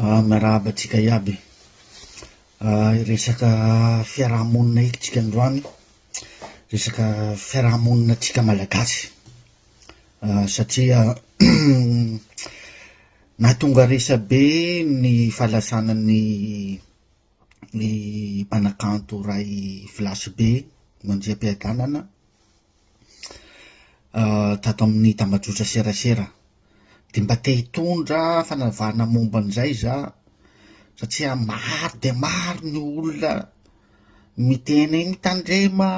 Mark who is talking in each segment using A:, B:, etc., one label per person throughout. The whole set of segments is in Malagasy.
A: Ah miarahaba antsika iaby ah resaka fiarahamonina eky tsika androany resaka fiarahamonina tsika malagasy ah satria nahatonga resabe ny fahalasana ny ny mpanakanto ray filasy be mandriam-piadanana ah tato amin'ny tambajotra serasera Dia mba te hitondra fanavahana momba an'izay izaho, satria maro dia maro ny olona miteny hoe mitandrema,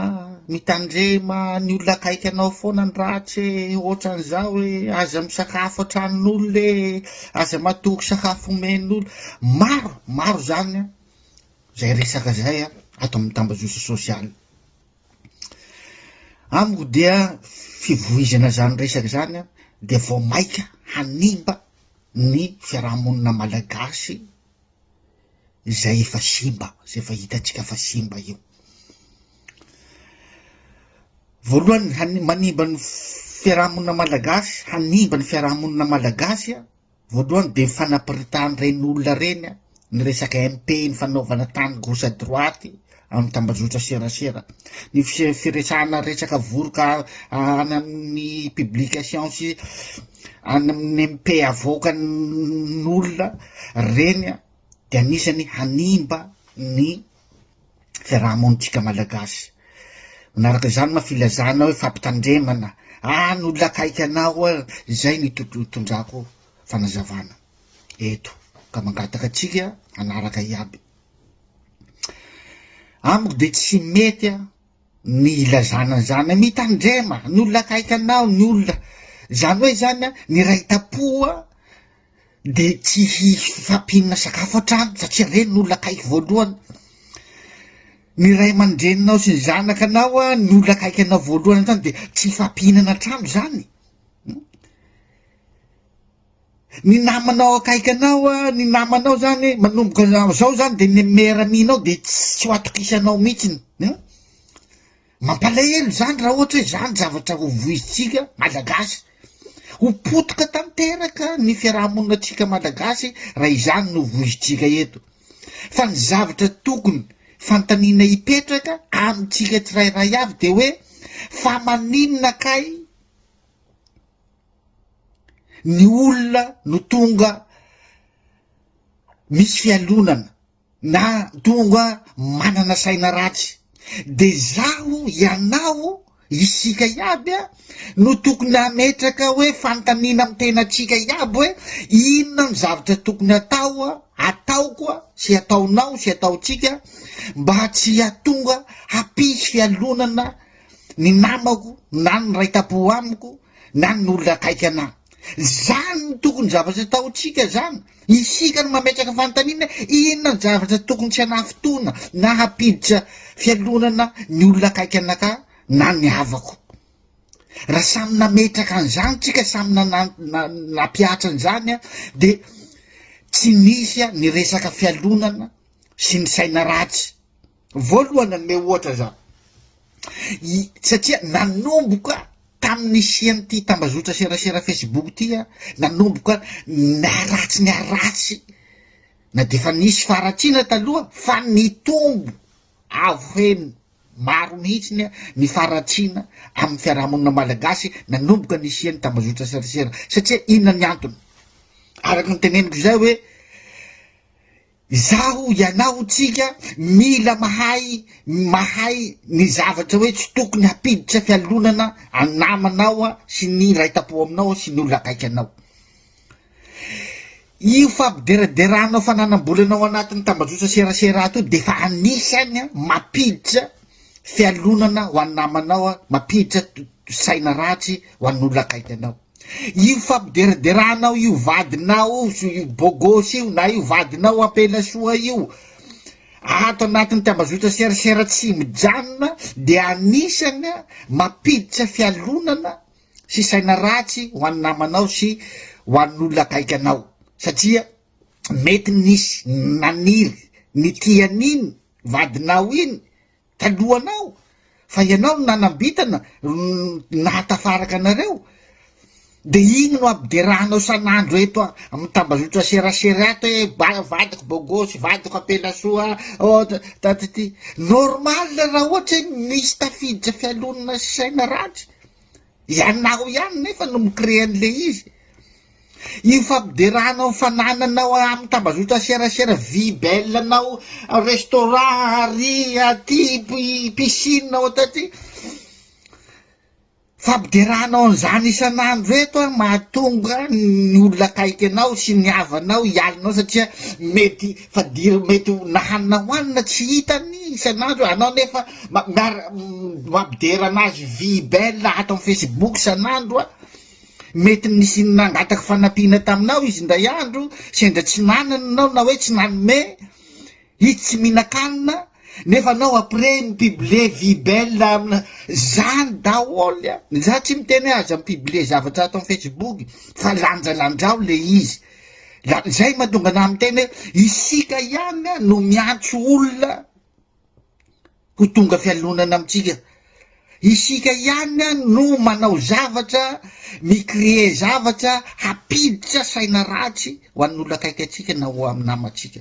A: mitandrema, ny olona akaiky anao foana ny ratsy e, ohatran'izao e, aza misakafo an-tranon'olona e, aza matoky sakafo omen'olona. Maro, maro izany izay resaka izay ato amin'ny tambajotra sosialy. Amiko dia fivoizana izany resaka izany an, dia vao maika hanimba ny fiaraha-monina malagasy izay efa simba, izay efa hitantsika fa simba io. Voalohany ny hany- manimba ny fiaraha-monina malagasy, hanimba ny fiaraha-monina malagasy an. Voalohany dia ny fanapiritahan'ireny olona ireny ny resaka MP ny fanaovana tany gauche à droite amin'ny tambazotra serasera, ny firesahana resaka voroka any amin'ny publication sy any amin'ny MP avoaka n'olona ireny dia anisany hanimba ny fiaraha-monintsika malagasy. Manaraka izany ma filazana hoe fampitandremana, ah ny olona akaiky anao oa izay no itondrako fanazavana eto ka mangataka antsika hanaraka iaby. Amiko dia tsy mety ny ilazana an'izany hoe mitandrema ny olona akaiky anao, ny olona, zany hoe zany an, ny iray tam-po an, de tsy hisy fahampiana sakafo an-trano satria reny no olona akaiky voalohany, ny ray aman-dreninao sy ny zanaka anao an, ny olona akaiky anao voalohany an-trano de tsy hifahampihinana an-trano zany. ny namanao akaiky anao a, ny namanao zany manomboka am'zao zany de ny meilleur ami-nao de tsy ho atokisanao mihitsiny an, mampalahelo zany raha ohatra hoe zany zavatra ho voizintsika malagasy, ho potika tanteraka ny fiarahamoninantsika malagasy raha izany no voizintsika eto, fa ny zavatra tokony fanontaniana hipetraka amintsika tsirairay avy de hoe fa maninona kay? ny olona no tonga misy fialonana na tonga manana saina ratsy de zaho ianao isika iaby a no tokony ametraka hoe fantanina am tenatsika iaby hoe inona ny zavatra tokony atao a ataoko a sy ataonao sy ataontsika mba tsy atonga hampisy fialonana ny namako na ny ray tampo amiko na ny olona akaiky anah zany ny tokony zavatra ataontsika zany isika no mametraka fanontaniana inona ny zavatra tokony tsy anafotoana na hampiditra fialonana ny olona akaiky anaka na ny havako raha samy nametraka an'izany tsika samy nanampiatra an'izany a de tsy nisy a ny resaka fialonana sy ny saina ratsy Voalohany nanome ohatra za i satria nanomboka tamin'ny nisian'ity tambazotra serasera Facebook ity a, nanomboka niharatsy niharatsy na dia efa nisy faharatsiana taloha fa nitombo avo heny maro mihitsiny a ny faharatsiana amin'ny fiarahamonina malagasy nanomboka nisian'ny tambazotra serasera satria inona ny antony araka ny teneniko izay hoe Izaho, ianao, tsika mila mahay mahay ny zavatra hoe tsy tokony hampiditra fialonana an namanao an sy ny iray tapo aminao an sy ny olona akaiky anao. Io fampideraderanao fananam-bolana ao anatin'ny tambajotra serasera ato io dia efa anisany an mampiditra fialonana ho an namanao an mampiditra saina ratsy ho an'olona akaiky anao. Io fampideraderanao io vadinao io bogosy io na io vadinao ampelasoa io ato anatin'ny tambazotra serasera tsy mijanona dia anisany mampiditra fialonana sy saina ratsy ho an'ny namanao sy ho an'olona akaiky anao satria mety nisy naniry ny tian'iny vadinao iny talohanao fa ianao no nanambitana no nahatafaraka anareo de igny no ampiderahanao san'andro eto amin'ny tambazotra serasera ato hoe ba vadiko bogosy vadiko ampelasoa ôhatra tatity normal raha ohatra hoe misy tafiditra fialonana sy saina ratsy Ianao ihany nefa no mi-créer an'ilay izy. Io fampiderahanao ny fanananao amin'ny tambazotra serasera, vie belle-nao, restaurant ary aty, piscine ao taty. Fampiderahanao an'izany isan'andro eto an, mahatonga ny olona akaiky anao sy ny havanao hialinao satria mety fa dia mety ho na hanina ho hanina tsy hitany isan'andro anao nefa mampidera anazy vie belle ato amin'ny facebook isan'andro a mety nisy nangataka fanampiana taminao izy indray andro sendra tsy nanana nao na hoe tsy nanome izy tsy mihinan-kanina nefa anao après mipible vie belle amina zany daholy a za tsy miteny hoe aza mipible zavatra ato amin'ny facebook fa lanjalanjao le izy La zay mahatonga anah miteny hoe isika ihany a no miantso olona ho tonga fialonana amintsika. Isika ihany a no manao zavatra, mi-créer zavatra hampiditra saina ratsy ho an'olona akaiky antsika na ho amin'ny namantsika.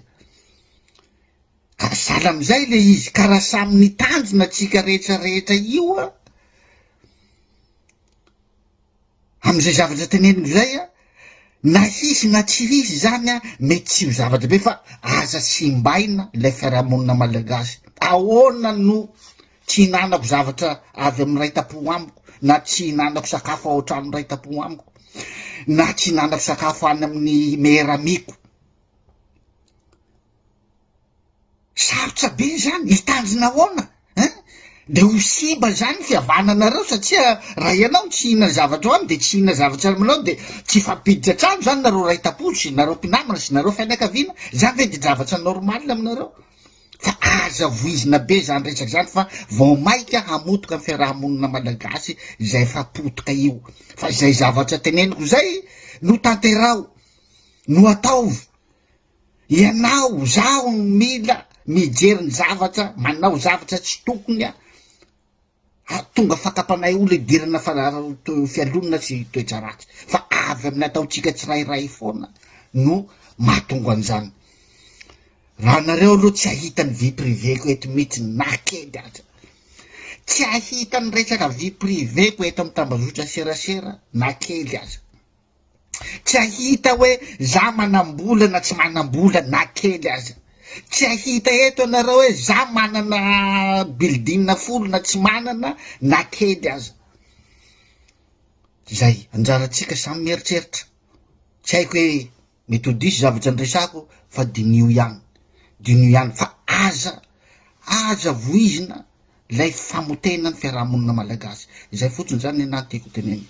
A: Ka sahala amin'izay le izy, ka raha samy nitandrina antsika rehetra rehetra io a, Amin'izay zavatra teneniko izay a, na hisy na tsy hisy izany a, mety tsy ho zava-dehibe fa aza simbaina ilay fiarahamonina malagasy. Ahoana no tsy hinanako zavatra avy amin'ny iray tam-po amiko, na tsy hinanako sakafo ao an-trano iray tam-po amiko, na tsy hinanako sakafo any amin'ny meilleur amiko. Sarotra be izany, hitandrina ahoana an? De ho siba izany ny fihavananareo satria raha ianao tsy hihinana zavatra hohaniny de tsy hihinana zavatra aminao de tsy hifampiditra trano izany nareo ray tampo sy nareo mpinamana sy nareo fianakaviana, izany ve de javatra normal aminareo? Fa aza voizina be izany resaka izany fa vao maika hamotoka ny fiaraha-monina malagasy izay efa potika io, fa izay zavatra teneniko izay no tanteraho, no ataovy. Ianao, zaho no mila mijery ny zavatra, manao zavatra tsy tokony a, hahatonga fakapanay ho lidirana fialonana sy toetra ratsy. Fa avy amin'ny ataontsika tsirairay foana no mahatonga an'izany. Raha nareo aloha tsy ahita ny vie privée-ko eto mihitsy na kely aza. Tsy ahita ny resaka vie privée-ko eto amin'ny tambazotra serasera na kely aza. Tsy hahita hoe za manam-bola na tsy manam-bola na kely aza. Tsy hahita eto ianareo hoe za manana building folo na tsy manana na kely aza. Zay, anjarantsika samy mieritreritra. Tsy haiko hoe Mety ho diso zavatra niresako fa diniho ihany, diniho ihany fa aza, aza voizina ilay famotehana ny fiarahamonina malagasy. Izay fotsiny izany ny anah tiako tenenina.